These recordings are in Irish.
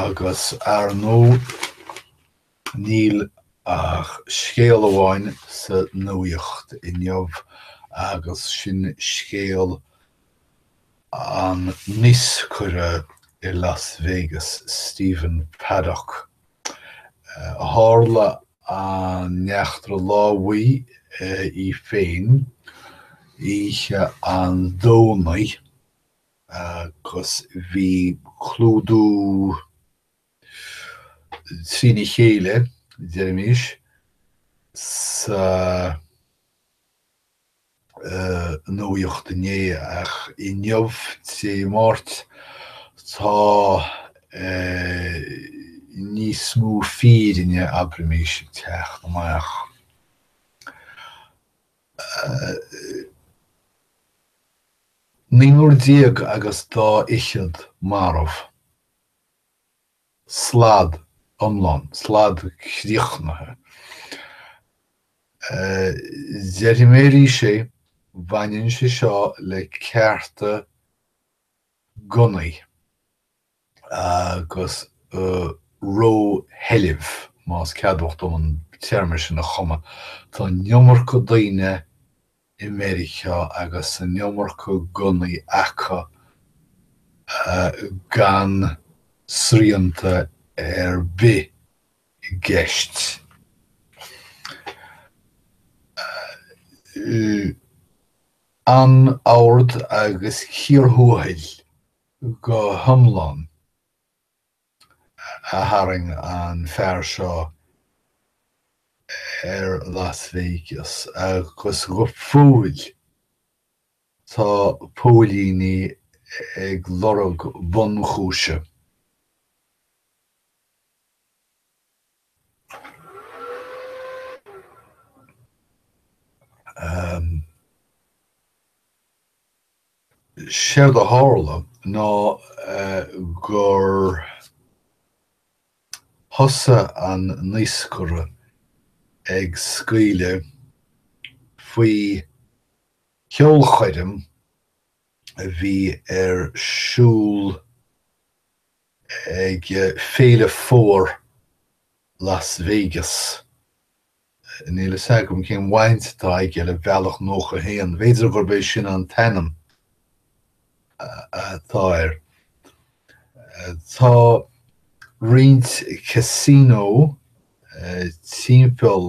Agus, ar ndóigh, níl ach scéal amháin sa nuaíocht inniu agus sin scéal an naoscaire i Las Vegas, Stephen Paddock. Tharla an eachtra lámhaigh í féin oíche an Domhnaigh. agus bhí clúdú trína chéile, deirimis, sa nuaíocht inné, ach inniu, Dé Máirt, tá níos mó fírinne, abraimis, ag teacht amach. Naonúr déag agus dá fhichead marbh. Slad iomlán. Slad críochnaithe. Déarfaidh mé arís é, baineann sé seo le cearta gunnaí. agus rósheilbh, más ceadmhach dom an téarma sin a chumadh, tá an iomarca daoine i Meiriceá agus an iomarca gunnaí acu gan srianta ar bith i gceist. Anord agus cíor thuathail. go hiomlán a tharraing an fear seo ar Las Vegas agus go fóill tá póilíní ag lorg bunchúise. Séard a tharla ná gur thosaigh an naoscaire ag scaoileadh faoi cheolchoirm a bhí ar siúl ag Féile Fómhair Las Vegas. Níl a fhios agam cén bhaint atá aige le Bealach 91, b'fhéidir gurb é sin an t-ainm atá air. Tá roinnt casino timpeall.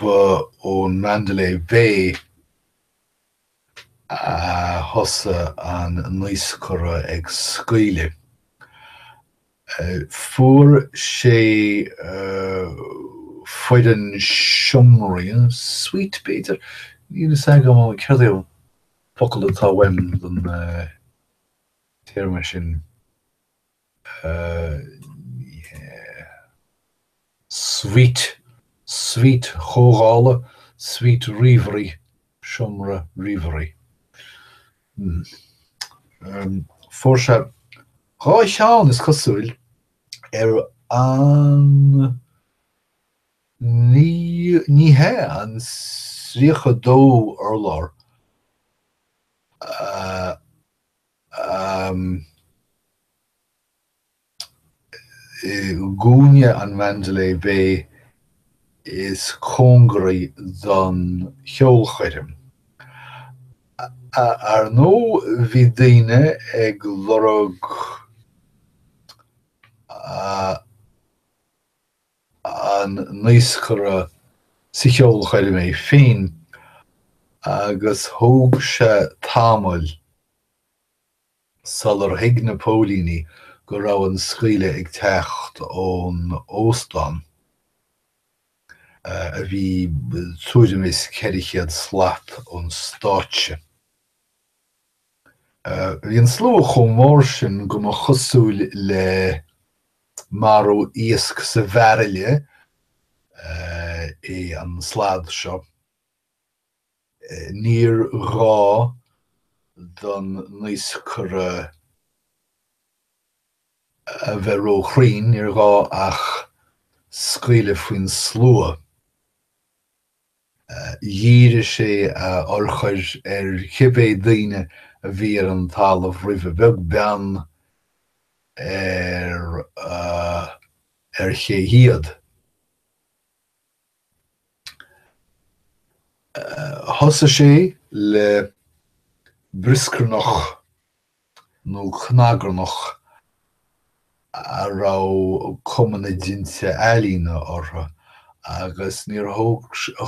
Ba ón Mandalay Bay a thosaigh an naoscaire ag scaoileadh. Fuair sé foireann seomraí, suite b'fhéidir, níl fhios agam ansin céard é an focal atá uaim don téarma sin. suite, suite chomhdhála, suite ríomhairí, seomra ríomhairí. Em. Fuair sé dhá cheann, is cosúil, ar an naoi, ní hea, an tríocha dó urlár. Em. I gcúinne an Mandalay Bay is cóngaraí don cheolchoirm. Ar ndóigh bhí daoine ag lorg an naoscaire sa cheolchoirm í féin agus thóg sé tamall sular thuig na póilíní go raibh an scaoileadh ag teacht ón óstán, a bhí tuairim is 400 slat ón stáitse. Bhí an slua chomh mór sin go mba chosúil le marú iasc sa bhairille é an slad seo. Níor ghá don naoscaire a bheith róchruinn, níor ghá ach scaoileadh faoin slua. Dhírigh sé a urchair ar chibé daoine a bhí ar an talamh roimhe, beag beann ar ar ché hiad. Thosaigh sé le brioscarnach nó cnagarnach a raibh cuma na dtinte ealaíne orthu, agus níor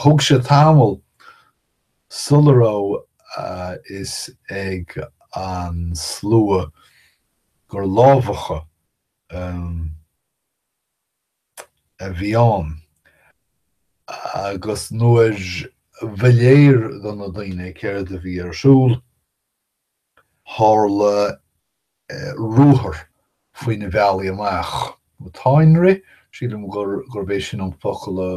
thug sé tamall sula raibh a fhios ag an slua gur lámhachadh a bhí ann, agus nuair ba léir do na daoine céard a bhí ar siúl, Tharla ruathar faoi na bealaí amach, nó táinrith, sílim gurb é sin an focal a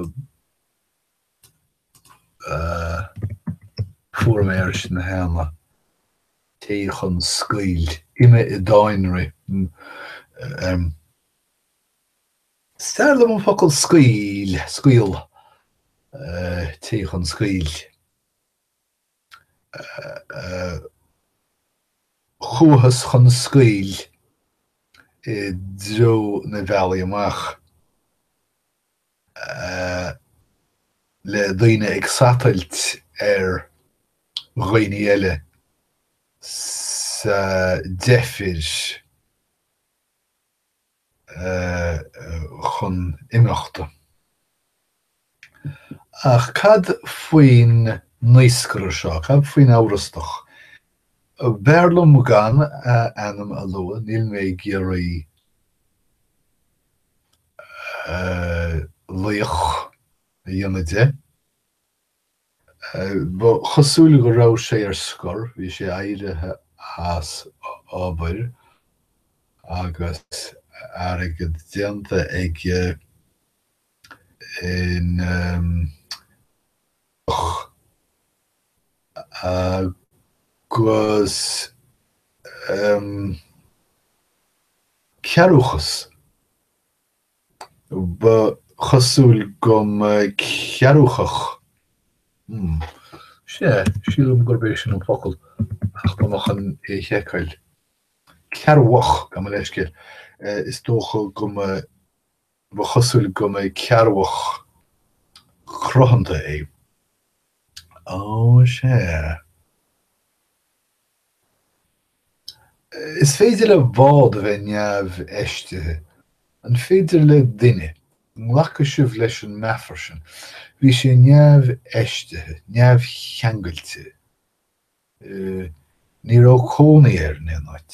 fuair mé air sin cheana, téigh chun scaoill, imigh i dtáinrith. Is fearr liom an focal scaoill, scaoll, téigh chun scaoill. Chuathas chun scaoill i dtreo na bealaí amach, le daoine ag satailt ar dhaoine eile sa deifir. chun imeachta. Ach cad faoin naoscaire seo? Cad faoin amhrastach? B'fhearr liom gan a ainm a lua, níl mé ag iarraidh laoch a dhéanamh de. Ba chosúil go raibh sé ar scor, bhí sé éirithe as obair agus airgead déanta aige in, eh, agus cearrbhachas. Ba chosúil go mba cearrúchach, hmm, sea, sílim gurb é sin an focal, ach tá mé chun é a sheiceáil. Cearrbhach, gabh mo leithscéal. Is dócha go mba, ba chosúil go mba cearrbhach cruthanta é. Ó, sea. Is féidir le bád a bheith neamhfheistithe. An féidir le duine? An nglacfaidh sibh leis an meafar sin. Bhí sé neamhfheistithe, neamhcheangailte. Ní raibh cónaí air in aon áit.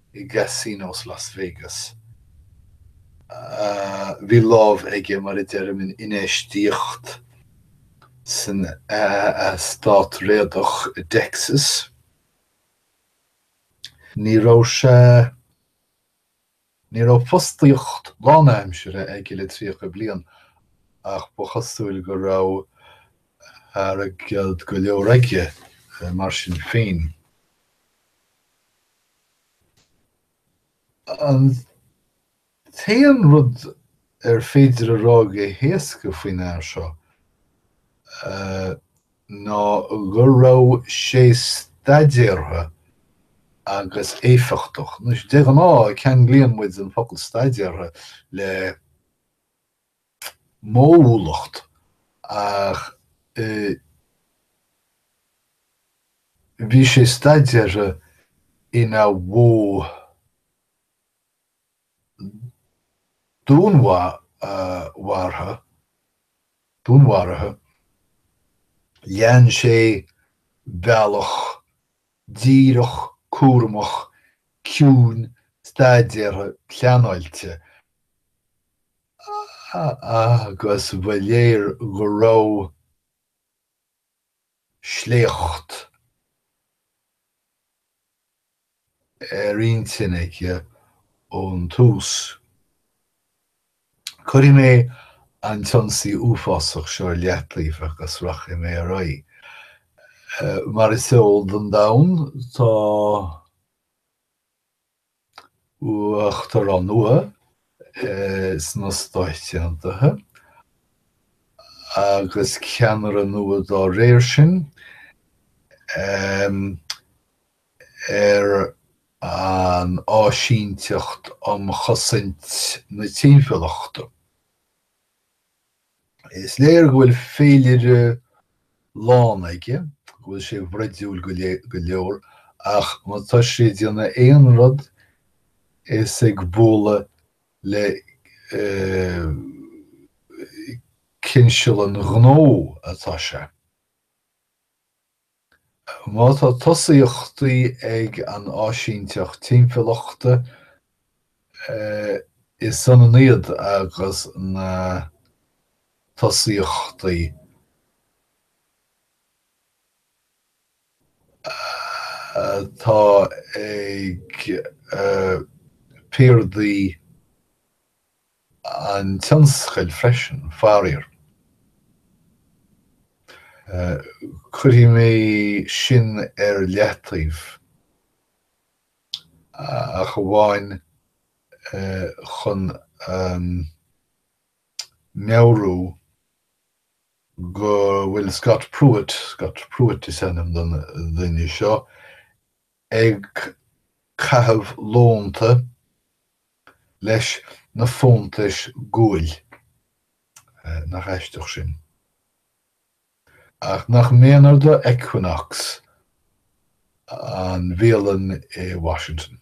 i gcasinos Las Vegas. Bhí lámh aige, mar a deirim, in infheistíocht san eastát réadach i dTexas. Ní raibh sé. Ní raibh fostaíocht lánaimsire aige le tríocha bliain, ach ba chosúil go raibh airgead go leor aige mar sin féin. An t-aon rud ar féidir a rá go héasca faoin fhear seo ná go raibh sé staidéartha agus éifeachtach. De ghnáth, ceanglaíonn muid an focal 'staidéartha' le. modhúlacht ach bhí sé staidéartha ina mhodh dúnmharaithe, lean sé bealach díreach, cúramach, ciúin, staidéartha, pleanáilte, agus ba léir go raibh sléacht ar intinn aige ón tús. Cuirfidh mé an t-ionsaí uafásach seo ar leataobh agus rachaidh mé ar aghaidh. Mar is eol don domhan, tá Uachtarán nua sna Stáit Aontaithe agus ceannaire nua dá réir sin ar an Áisíneacht um Chosaint na Timpeallachta. Is léir go bhfuil féilire lán aige, go bhfuil sé broidiúil go leor, ach má tá sé ag déanamh aon rud, is ag bualadh le cinseal an ghnó atá sé. Má tá tosaíochtaí ag an Áisíneacht Timpeallachta, is ionann iad agus na tosaíochtaí atá ag piardaí. an tionscail freisin, faraor. Cuirfidh mé sin ar leataobh, ach amháin chun a mheabhrú go bhfuil Scott Pruitt, Scott Pruitt is ainm don duine seo, ag caitheamh lónta leis na fóntais guail. Nach aisteach sin. Ach nach méanar do Equinox an bhialann i Washington.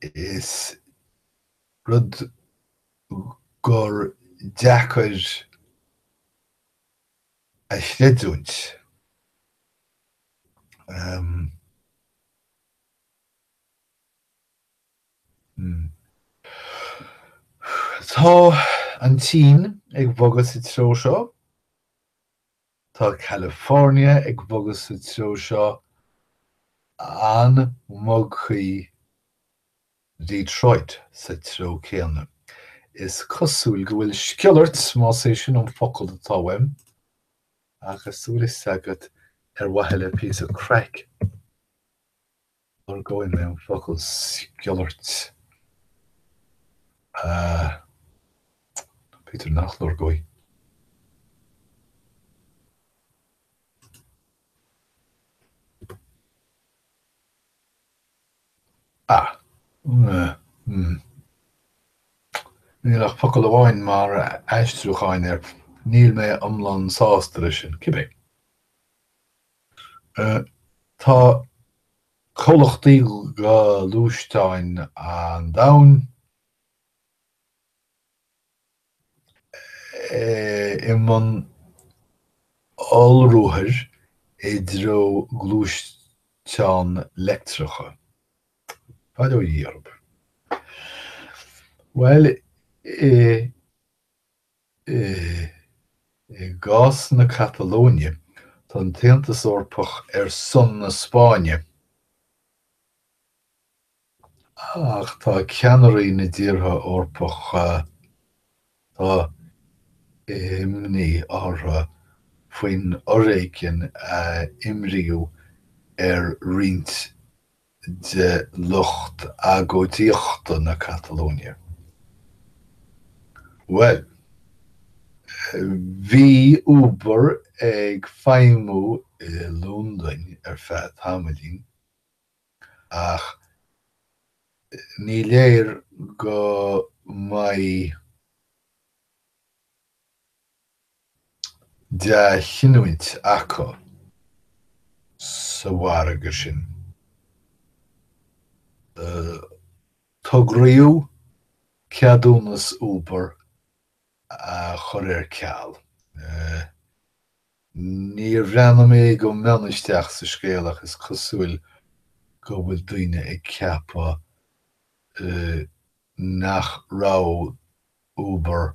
is rud gur deacair a chreidiúint. Tá an tSín ag bogadh sa treo seo. Tá California ag bogadh sa treo seo an mbogfaidh Detroit sa treo céanna. Is cosúil go bhfuil sciolairt, más é sin an focal atá uaim, ach níl a fhios agat ar mhaithe le píosa craic. Lorgóidh mé an focal sciolairt. Nó b'fhéidir nach lorgóidh. Ah. Mmm. Níl ach focal amháin mar aistriúchán air. Níl mé iomlán sásta leis sin. Cibé. Tá comhlachtaí gluaisteán an domhain i mbun ollruathair i dtreo gluaisteáin leictreacha. Bail ó Dhia orthu. Bhuel, i. gcás na Catalóine, tá an tAontas Eorpach ar son na Spáinne, ach tá ceannairí na dtíortha Eorpacha, tá imní orthu faoin fhoréigean a imríodh ar roinnt de lucht agóidíochta na Catalóine. Bhuel, bhí Uber ag feidhmiú i Londain ar feadh tamaillín, ach ní léir go mbeidh. dea-chinniúint acu sa mhargadh sin. Togradh ceadúnas Uber a chur ar ceal. Níor bhreathnaigh mé go mion isteach sa scéal ach is cosúil go bhfuil daoine ag ceapadh nach raibh Uber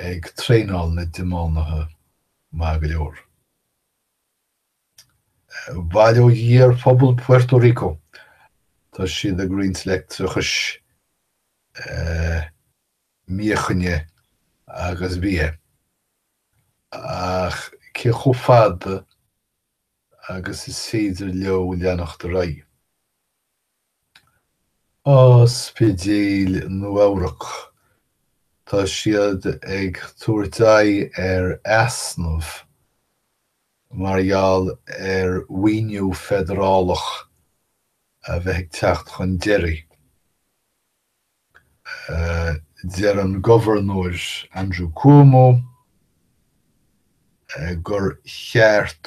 ag traenáil na dtiománaithe maith go leor. Bail ó Dhia ar phobal Puerto Rico, tá siad ag roinnt leictreachas, míochaine agus bia, ach cé chomh fada agus is féidir leo leanacht ar aghaidh? Ospidéil Nua-Eabhrac, tá siad ag tabhairt aghaidh ar easnamh mar gheall ar mhaoiniú feidearálach a bheith ag teacht chun deiridh, a deir an Gobharnóir Andrew Cuomo gur cheart.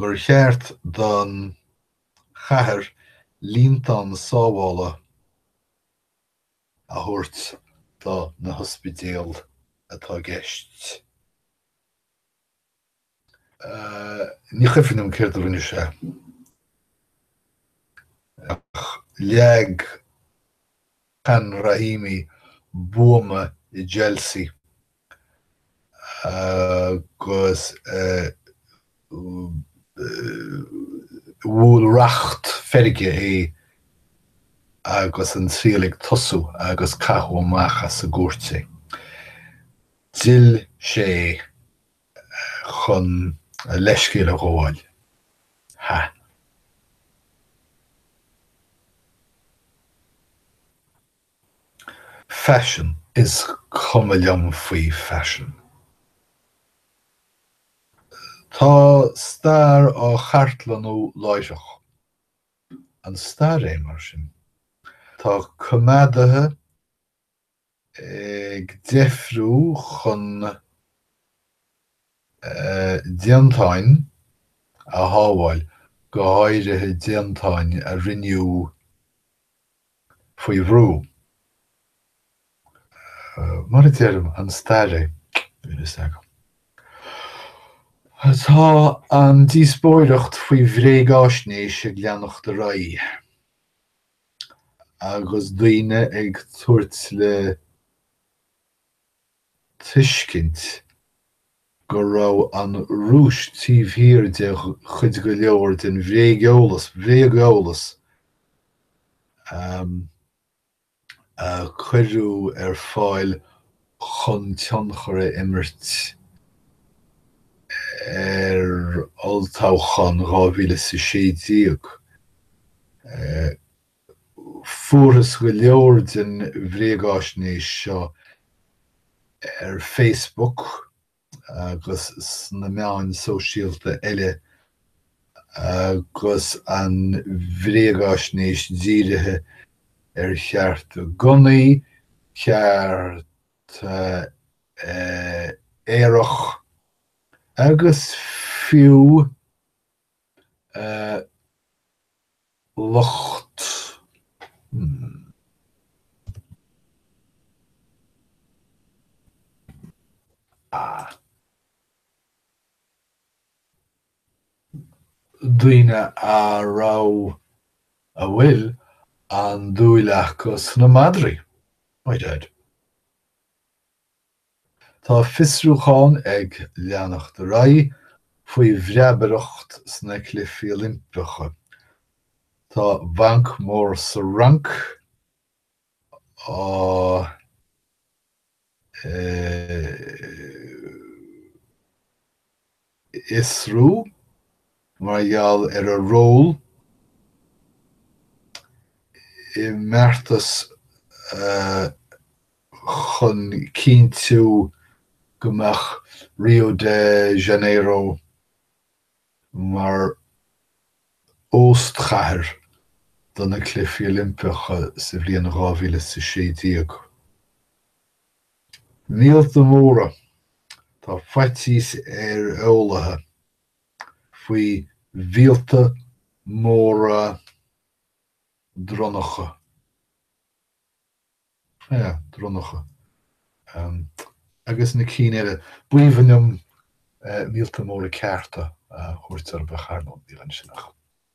gur cheart don chathair líontán sábhála a thabhairt do na hospidéil atá i gceist. Ní cuimhin liom céard a rinne sé, ach leag Khan Rahimi buama i Chelsea agus bhuail racht feirge é agus an triail ag tosú agus caitheadh amach as an gcúirt é. D'fhill sé chun a leithscéal a ghabháil. Ha. Faisean, is cuma liom faoi faisean. Tá stair á cartlannú láithreach. An stair é, mar sin? Tá coimeádaithe ag deifriú chun déantáin a shábháil, go háirithe déantáin a rinneadh faoi bhrú. Mar a deir an staraí, tá an díospóireacht faoi bhréagaisnéis ag leanacht ar aghaidh agus daoine ag tabhairt le tuiscint go raibh an Rúis taobh thiar de cuid go leor den bhréageolas, bréag-eolas, a cuireadh ar fáil chun tionchar a imirt ar olltoghchán 2016. Fuarthas go leor den bhréagaisnéis seo ar Facebook agus sna meáin sóisialta eile agus an bhréagaisnéis dírithe ar chearta gunnaí, cearta aerach agus fiú, eh lucht daoine a raibh, a bhfuil, an-dúil acu sna madraí. Tá fiosrúcháin ag leanacht ar aghaidh faoi bhreabaireacht sna Cluichí Oilimpeacha. Tá banc mór sa Fhrainc á fhiosrú mar gheall ar a ról i mbeartas chun cinntiú go mbeadh Rio de Janeiro mar óstchathair do na Cluichí Oilimpeacha sa bhliain dhá mhíle is a sé déag. Míolta Móra, Tá faitíos ar eolaithe faoi mhíolta móra dronnacha, dronnacha, agus na cinn eile. B'aoibhinn liom míolta móra cearta a thabhairt orthu, ach ar ndóigh, níl ansin ach.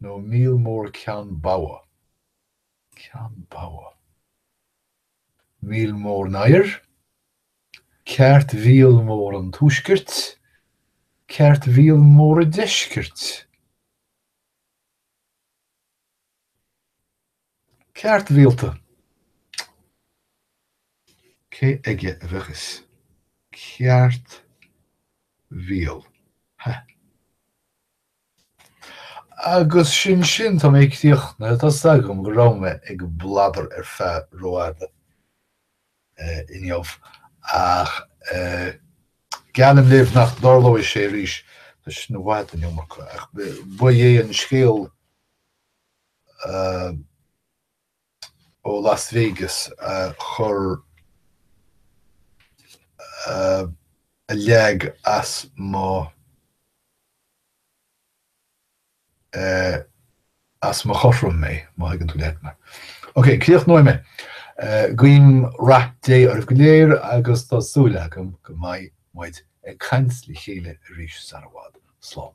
nó míol mór ceann bogha, ceann bogha, míol mór an oighir, ceart mhíol mór an tuaiscirt, ceart mhíol mór an deiscirt. Ceart rialta. Cé aige a bheadh is ceart rialta? Agus sin sin, tá mé críochnaithe, tá a fhios agam go raibh mé ag bladar ar feadh rófhada inniu, ach geallaim daoibh nach dtarlóidh sé arís, tá sin i bhfad an iomarca, ach ba é an scéal. ó Las Vegas a chuir a leag as mo as mo chothrom mé, má thuigeann tú leat mé. Ok, críochnóidh mé. Guím rath Dé oraibh go léir agus tá súil agam go mbeidh muid ag caint le chéile arís sara bhfad. Slán.